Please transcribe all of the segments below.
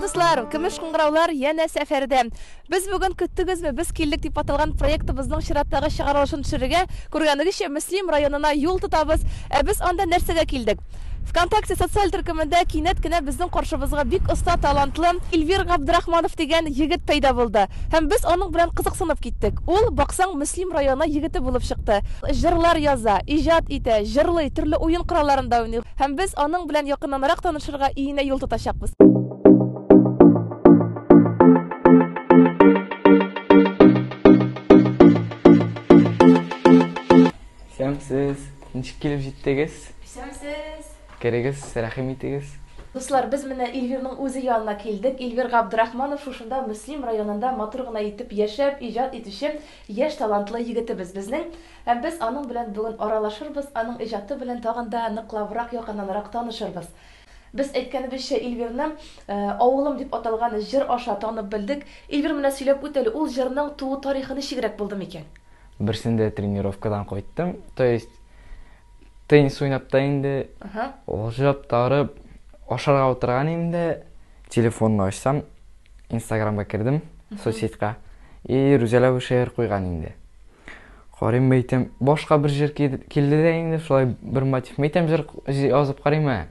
Дуслар, көмеш кыңгыраулар янә сәфәрдә. Без бүген көттегезме? Без килдек дип аталган проектыбызның чираттагы чыгарылышын төшерергә. Күргәнегезчә, Мөслим районына юл тотабыз. Ә без анда нәрсәгә килдек? Вконтакте социаль төркемендә кинәт кенә безнең каршыбызга бик оста, талантлы Эльвир Габдрахманов дигән егет пәйда булды. Һәм без аның белән кызыксынып киттек. Ул, баксаң, Мөслим районы егете булып чыкты. Җырлар яза, иҗат итә, җырлый, төрле уен коралларында уйный. Һәм без аның белән якыннанрак танышырга иенә юл тотачакбыз. Һәм сез Ничек килеп җиттегез? Исәнмесез! Керегез, рәхим итегез. Дуслар, без менә Эльвирның үзе янына килдек. Эльвир Габдрахманов шушында Мөслим районында матур гына итеп яшәп, иҗат итүче яшь талантлы егетебез безнең. Һәм без аның белән бүген аралашырбыз, аның иҗаты белән тагын да ныклабрак, якыннанрак танышырбыз. Без әйткәнебезчә Ильвирны Авылым дип аталган җыр аша танып белдек. Ильвир менә сөйләп үт әле, ул җырның туу тарихы ничегрәк булды микән? Берсендә тренировкадан кайттым, то есть теннис уйнап та инде, алҗып та арып, ашарга утырган идем дә, телефонны ачсам, инстаграмга кердем, соцсетька, и Рүзәлә шигырь куйган инде. Карыйм мәйтәм, башка бер җыр килде дә инде, шулай бер мотив. Мәйтәм җыр язып карыйм ә.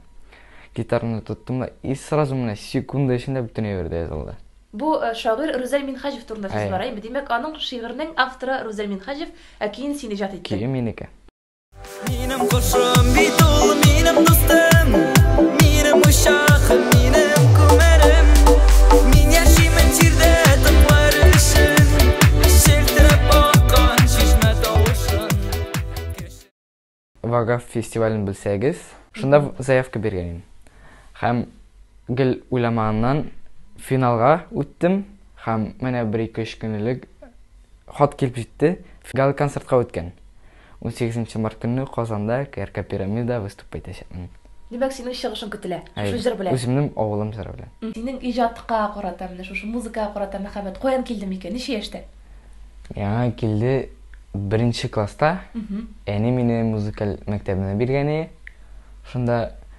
Гитараны тоттым да, и сразу менә секунда эчендә бөтен әйбер дә язылды. Бу шагыйрь Рүзәл Минһаҗев турында сүз бара, димәк, аның шигыренең авторы Рүзәл Минһаҗев, ә көен син иҗат иттең. Көе минеке. Минем кошым бит ул, минем дустым, минем учахым, минем күмәрем. Мин яшимен җирдә тыңлар өчен, челтерәп аккан чишмә тавышын. Вагаф фестивален белсәгез, шунда заявка биргән идем. Һәм гел уйламаганнан финалга үттем һәм менә бер-ике-өч көн элек хат килеп җитте. Гала-концертка үткән. Унсигез нче март көнне Казанда КРК Пирамида выступы итәчәкмен. Димәк, синең чыгышың көтелә, шушы җыр белән? Әйе, үземнең авылым җыры белән. Синең иҗатка карата, менә шушы музыкага карата мәхәббәт каян килде микән, ничә яшьтә? Яңа килде, беренче класста. Әни мине музыкаль мәктәбенә биргән иде, шунда.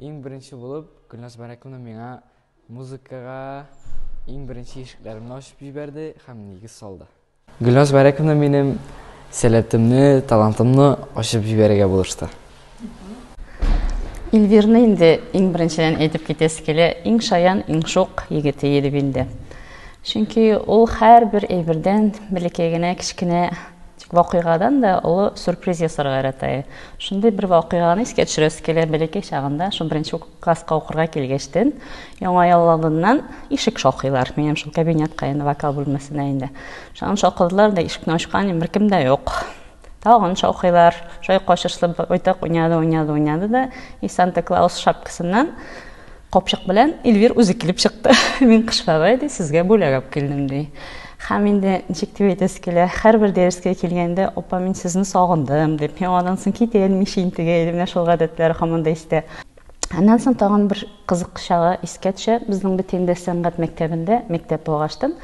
Иң беренче булып Гөлназ Бәрәкуловна миңа музыкага иң беренче ишекләремне ачып җибәрде һәм нигез салды. Гөлназ Бәрәкуловна минем сәләтемне, талантымны ачып җибәрергә булышты. Эльвирны инде иң беренчедән әйтеп китәсе килә, иң шаян, иң шук егете Елебилдә. Чөнки ул һәрбер әйбердән, бәләкәй генә, кечкенә Тик вакыйгадан да олы сюрприз ясарга ярата. Шундый бер вакыйганы искә төшерәсе килә, бәләкәй чагында, шул беренче класска укырга килгәчтен, Яңа ел алдыннан ишек шакыйлар. Минем шул кабинетка инде, вокал бүлмәсенә инде. Шуннан шакыдылар да, ишекне ачкан, беркем дә юк. Тагын шакыйлар. Шулай качышлы байтак уйнады, уйнады, уйнады да, и Санта Клаус шапкасыннан капчык белән Эльвир үзе килеп чыкты. Мин Кыш бабай, ди, сезгә бүләк алып килдем, ди. Һәм инде ничек дип әйтәсе килә, һәрбер дәрескә килгәндә, Апа, мин сезне сагындым, дип, мин аннан соң китәен мичә интегә иде, менә шул гадәтләре һаман да истә. Аннан соң тагын бер кызык чагы искә төшә, безнең Бетендә сәнгать мәктәбендә мәктәп булгаштын,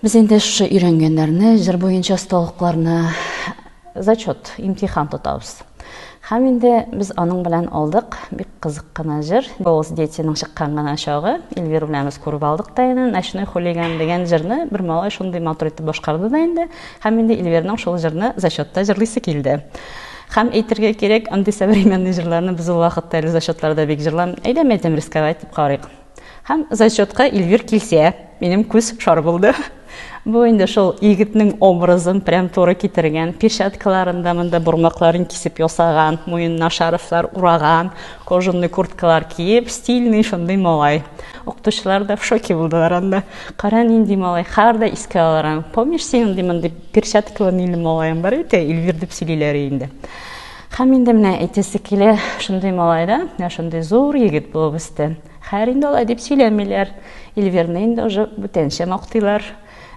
без инде шушы өйрәнгәннәрне, җыр буенча осталыкларны, Зачет, имтихан тотабыз. Һәм инде без аның белән алдык. Бик кызык кына җыр. Голос детиның чыккан гына чагы. Эльвира белән без күреп алдык та инде. Ночной хулиган дигән җырны бер малай шундый матур итеп башкарды да инде. Һәм инде Эльвираның шул җырны зачетта җырлыйсы килде. Һәм әйтергә кирәк, андый современный җырларны без ул вакытта әле зачетларда бик җырлам. Әйдә, мәйтәм, рисковать итеп карыйк. Һәм зачетка Ильвир килсә, минем күз шар булды. Бу инде шул егетнең образын прям туры китергән. Перчаткаларын да монда бормакларын кисеп ясаган, муенына шарфлар ураган, кожаный курткалар киеп, стильный шундый малай. Укытучылар да в шоке булдылар анда. Кара нинди малай, хәзер дә искә алырың. Помнишь, синең ди мондый перчаткалы милли малаең бар икән, Ильвир дип сөйлиләр инде. Хәм инде менә әйтәсе килә, шундый малай да, менә шундый зур егет булып үсте. Хәер инде алай дип сөйләмиләр. Эльвирны инде уже бүтәнчә мактыйлар.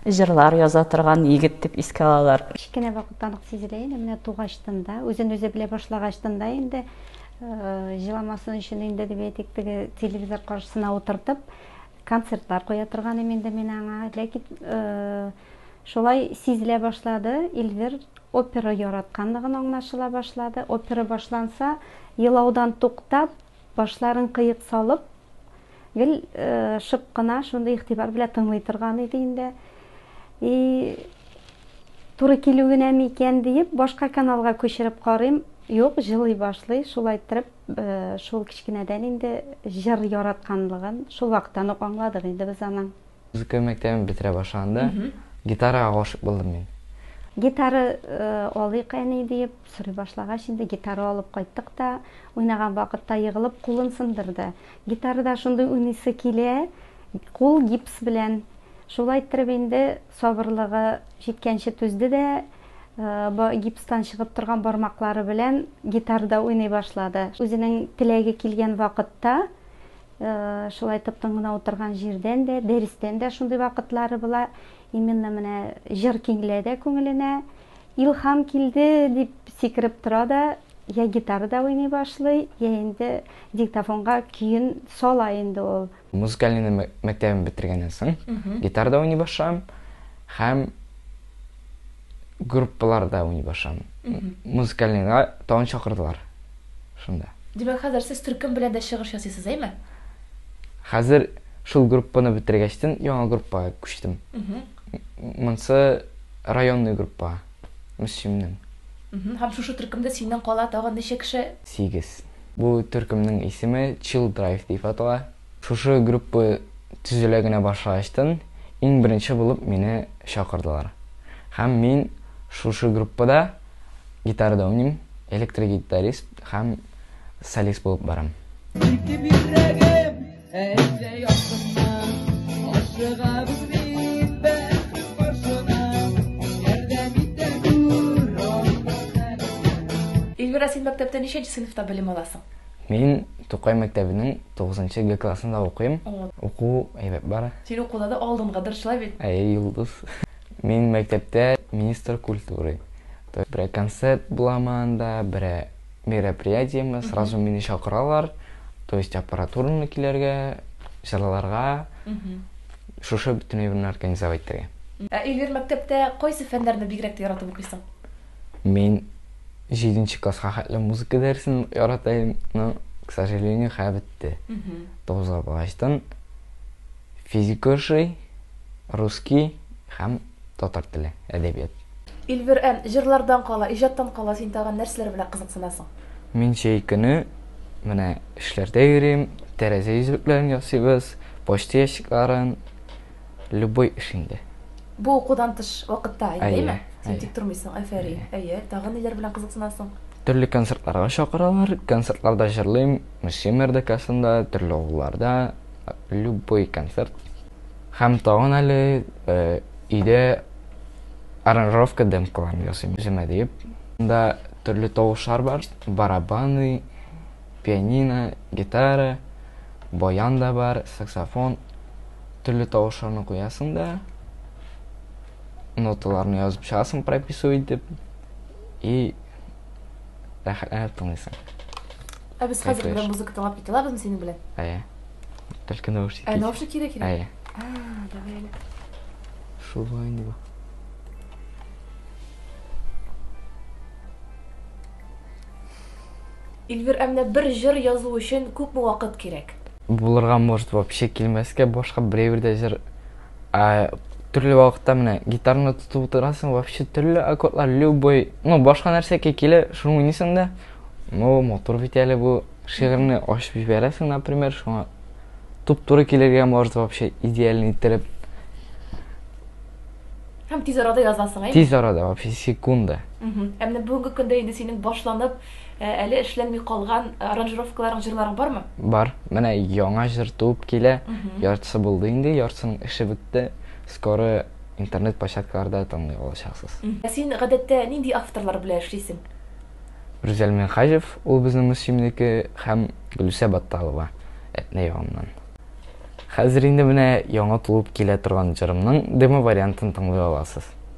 Җырлар яза торган егет дип искә алалар. Кечкенә вакыттан ук сизелә инде, менә тугачтын да, үзен үзе белә башлагачтын да инде җыламасын өчен инде дип әйтик, теге телевизор каршысына утыртып, концертлар куя торган идем инде мин аңа. Ләкин Шулай сизелә башлады, Эльвир опера яратканлыгын аңлашыла башлады. Опера башланса, елаудан туктап, башларын кыек салып, гел шып кына, шундый игътибар белән тыңлый торган иде инде. И туры килү генәме икән диеп, башка каналга күчереп карыйм. Юк, җылый башлый. Шулай иттереп, шул кечкенәдән инде җыр яратканлыгын шул вакыттан ук аңладык инде без аның. Музыка мәктәбен бетерә башлаган да, гитарага гашыйк булдым мин. Гитара алыйк, әни, диеп сорый башлагач, инде гитара алып кайттык та, уйнаган вакытта егылып кулын сындырды. Гитарада шундый уйныйсы килә, кул гипс белән. Шулай иттереп инде сабырлыгы җиткәнче түзде дә, гипстан чыгып торган бармаклары белән гитарада уйный башлады. Үзенең теләге килгән вакытта, Шулай тып-тын гына утырган җирдән дә, дәрестән дә шундый вакытлары була. Именно менә җыр киңлә дә күңеленә. Илһам килде, дип сикереп тора да, я гитара да уйный башлый, я инде диктофонга көен сала инде ул. Музыкальныйны мәктәбен бетергәннән соң, гитара да уйный башлыйм һәм. группаларда уйный башам. Музыкальныйга тагын чакырдылар. Шунда. Димәк, хәзер сез төркем белән дә чыгыш ясыйсыз, әйме? Хәзер шул группаны бетергәчтен яңа группага күчтем. Монсы районный группа. Мөслимнең. Һәм шушы төркемдә синнән кала тагын ничә кеше? Сигез. Бу төркемнең исеме Chill Drive дип атала. Шушы группа төзелә генә башлагачтын иң беренче булып мине чакырдылар. Һәм мин шушы группада гитарада уйныйм, электрогитарист һәм солист булып барам. Итеп йөрәгем, әйтсә яктыңмы, ашыгабыз бит без каршына, ярдәм итә күр Аллаһ хәбибә. Ильвира, син мәктәптә ничәнче сыйныфта белем аласың? Мин Тукай мәктәбенең тугызынчы Г классында укыйм. Уку әйбәт бара. Син укуда да алдынгы дыр, шулай бит? Әйе, Йолдыз. Мин мәктәптә министр культуры. Берәр концерт буламы анда, берәр мероприятиеме, сразу мине чакыралар. То есть аппаратураны килергә, җырларга, шушы бөтен әйберне организовать итәргә. Ә Эльвир, мәктәптә кайсы фәннәрне бигрәк тә яратып укыйсың? Мин җиденче класска хәтле музыка дәресен ярата идем, но, к сожалению, хәзер бетте. Тугызга барачтан физика ошый, русский һәм татар теле, әдәбият. Эльвир, ә җырлардан кала, иҗаттан кала син тагын нәрсәләр белән кызыксынасың? Мин җәй көне менә эшләрдә йөрим, тәрәзә йөзлекләрен ясыйбыз, почта ящикларын, Любой эш инде. Бу укудан тыш вакытта, әйеме? Син тик тормыйсың, әфәрин. Әйе, тагын ниләр белән кызыксынасың? Төрле концертларга чакыралар, концертларда җырлыйм, Мөслим РДКсында, төрле авылларда, любой концерт. Һәм тагын әле э, өйдә аранжировка демкаларын ясыйм үземә диеп. Монда төрле тавышлар бар, барабаны, пианино, гитара, баян да бар, саксофон, Төрле тавышларны куясың да, ноталарны язып чыгасың прописывать итеп, и рәхәтләнеп тыңлыйсың. Ә без хәзер белән музыка тыңлап китә алабызмы синең белән? Әйе. Только наушники. Ә наушник кирәк кирәк? Әйе. Давай әле. Шулай инде. Эльвир, ә менә бер җыр язу өчен күпме вакыт кирәк? Булырга может вообще килмәскә башка берәйбер дә җыр төрле вакытта менә гитараны тотып утырасың вообще төрле аккордлар любой ну башка нәрсәкә килә шуны уйныйсың да ну мотор бит әле бу шигырьне ачып җибәрәсең например шуңа туп туры килергә может вообще идеальный иттереп һәм тиз арада язасың әйе тиз арада вообще секунда ә менә бүгенге көндә инде синең башланып Ә әле эшләнми калган аранжировкаларың, җырларың бармы? Бар. Менә яңа җыр туып килә. Яртысы булды инде, яртысының эше бетте. Скоро интернет площадкаларда тыңлый алачаксыз. Ә син гадәттә нинди авторлар белән эшлисең? Рүзәл Минһаҗев, ул безнең Мөслимнеке, һәм Гөлүсә Батталова, Әтнә ягыннан. Хәзер инде менә яңа туып килә торган җырымның демо-вариантын тыңлый аласыз.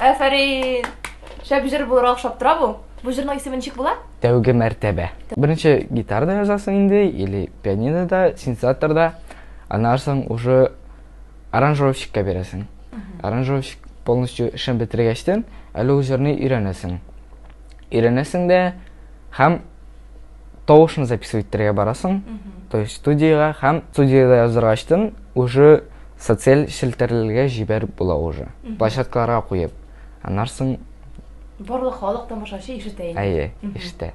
Афәрин! Шәп җыр булыр охшап тора бу. Бу җырның исеме ничек була? Тәүге мәртәбә. Беренче гитарда язасың инде или пианинода, синтезаторда. Аннан соң уже аранжировщикка бирәсең. Аранжировщик полностью эшен бетергәчтен, әле ул җырны өйрәнәсең. өйрәнәсең дә һәм тавышны записывать итәргә барасың то есть студиягә һәм студиядә язырга ачтым уже социаль челтәрләргә җибәреп була уже площадкаларга куеп аннан соң барлык халык тамашачы ишетә инде әйе ишетә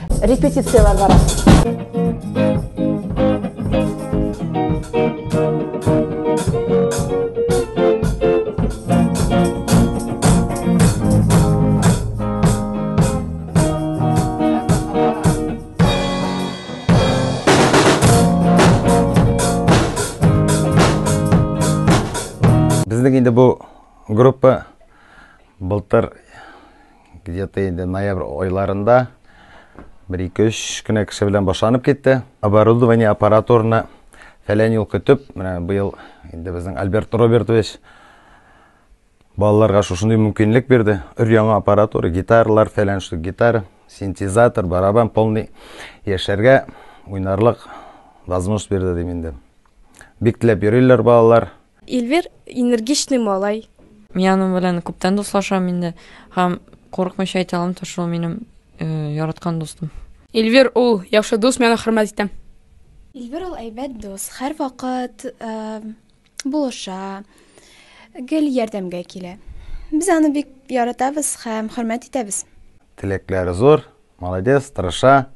Репетицияләр бара. Безнең инде бу группа былтыр Где-то инде ноябрь айларында бер ике-өч кенә кеше белән башланып китте. Оборудование аппаратураны фәлән юл көтеп, менә быел инде безнең Альберт Робертович балаларга шушындый мөмкинлек бирде. Өр-яңа аппаратура, гитаралар фәлән штук, гитара, синтезатор, барабан полный яшәргә уйнарлык возможность бирде дим инде. Бик теләп йөриләр балалар. Ильвир энергичный малай. Мин аның белән күптән дуслашам инде һәм курыкмыйча әйтә алам, то шул минем э, яраткан дустым. Ильвир ул яхшы дус, мин аны хөрмәт итәм. Ильвир ул әйбәт дус, һәр вакыт э, булыша, гел ярдәмгә килә. Без аны бик яратабыз һәм хөрмәт итәбез. Теләкләре зур, молодец, тырыша.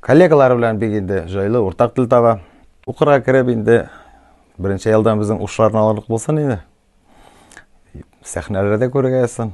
Коллегалары белән бик инде җайлы уртак тел таба. Укырга кереп инде беренче елдан безнең ушларны алырлык булсын инде. Сәхнәләрдә күргәсен.